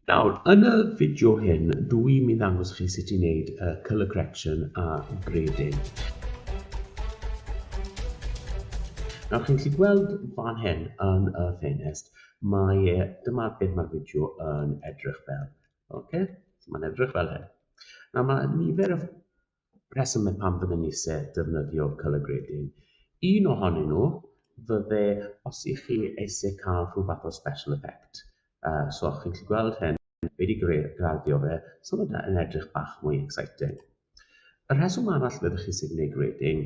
Nawr, yn y fideo hyn, dw i'n mynd ddangos chi sut i wneud uh, colour correction a grading. Nawr, chi'n gallu gweld fan hyn yn y ffenest, mae e, dyma beth mae'r fideo yn edrych fel. Okay? So mae'n edrych fel hyn. Nawr, mae nifer o Rheswm y pam fydden ni isie defnyddio Colegredyn. Un ohonyn nhw fydde os i chi eisiau cael rhyw fath o special effect. Uh, so chi'n gallu gweld hyn, fe wedi graddio fe, so mae yn edrych bach mwy exciting. Y rheswm arall byddwch chi sy'n gwneud grading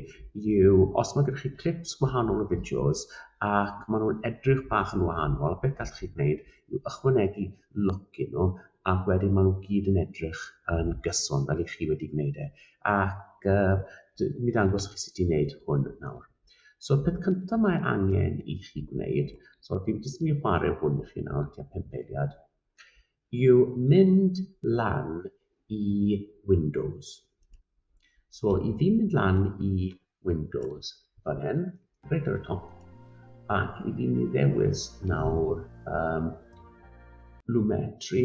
yw os mae gennych chi clips gwahanol o fideos ac maen nhw'n edrych bach yn wahanol, beth gallwch chi gwneud i'w ychwanegu lwc i nhw ac wedyn maen nhw gyd yn edrych yn gyson fel i chi wedi gwneud e ac uh, mi dangos chi sut i wneud hwn nawr. So y peth cyntaf mae angen i chi gwneud, so dwi'n jyst mynd i chwarae hwn i chi nawr, tua pimp eiliad, yw mynd lan i Windows. So i fi mynd lan i Windows fan hyn, reit ar y top, ac i fi mi ddewis nawr um, Lumetri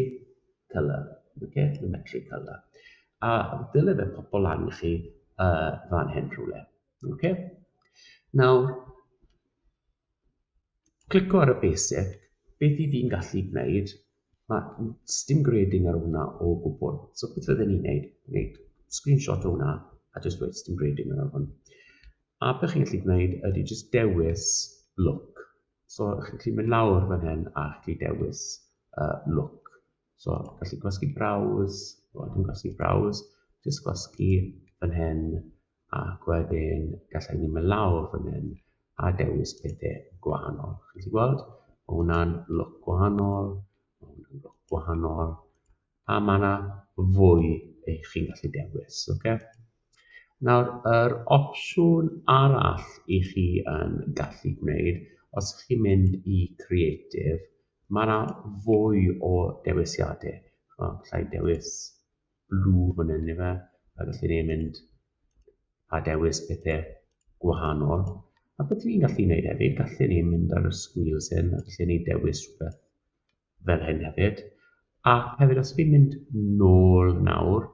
Colour, okay? Lumetri Colour. A dyle fe pobl lan i chi uh, fan hyn rhywle. Okay? Nawr, Clico ar y basic, beth i fi'n gallu gwneud, mae stim grading ar hwnna o gwbl. So beth fydden ni'n gwneud, gwneud screenshot o hwnna a just dweud stim grading ar hwn. A beth chi'n gallu gwneud ydy just dewis look. So chi'n gallu mynd lawr fan hyn a chi'n dewis uh, look. So, gallu gwasgu browse, o, dwi'n gwasgu browse, jyst gwasgu fan hyn, ac wedyn gallai ni mynd lawr fan hyn a dewis pethau gwahanol. Chi wedi gweld? Mae hwnna'n look gwahanol, mae hwnna'n look gwahanol, a mae yna fwy eich chi'n gallu dewis. Okay? Nawr, yr opsiwn arall i chi yn gallu gwneud, os ydych chi'n mynd i Creative, mae yna fwy o dewisiadau. Gallai dewis blue fan hyn ife, a gallu ni mynd a dewis pethau gwahanol. A beth ni'n gallu gwneud hefyd, gallu ni mynd ar y sgwils hyn, a gallu ni dewis rhywbeth fel hyn hefyd. A hefyd, os fi'n mynd nôl nawr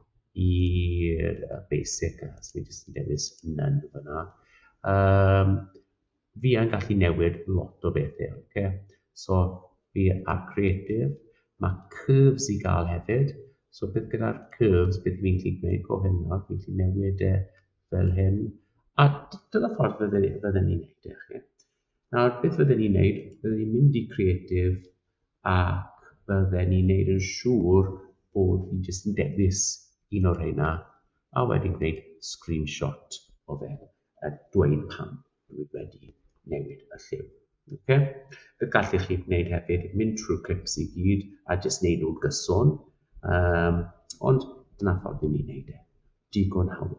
i'r basic, os fi'n jyst yn dewis none fyna, um, Fi yn gallu newid lot o bethe, oce? So, fi ar creative, mae curves i gael hefyd, so beth gyda'r curves, beth fi'n gallu gwneud, go hyn nawr, fi'n gallu newid e fel hyn, a dyna ffordd fydden ni'n gwneud e, chi. Nawr, beth fydden ni'n gwneud, fydden ni'n mynd i creative, a fydden ni'n gwneud yn siŵr bod fi jyst yn dewis un o'r rheina, a wedyn gwneud screenshot o fe. a dweud pam dwi wedi newid y lliw. Okay? Be gallwch chi wneud hefyd, mynd trwy'r clips i gyd a jyst wneud nhw'n gyson, um, ond dyna ffordd i ni wneud e. Digon hawdd.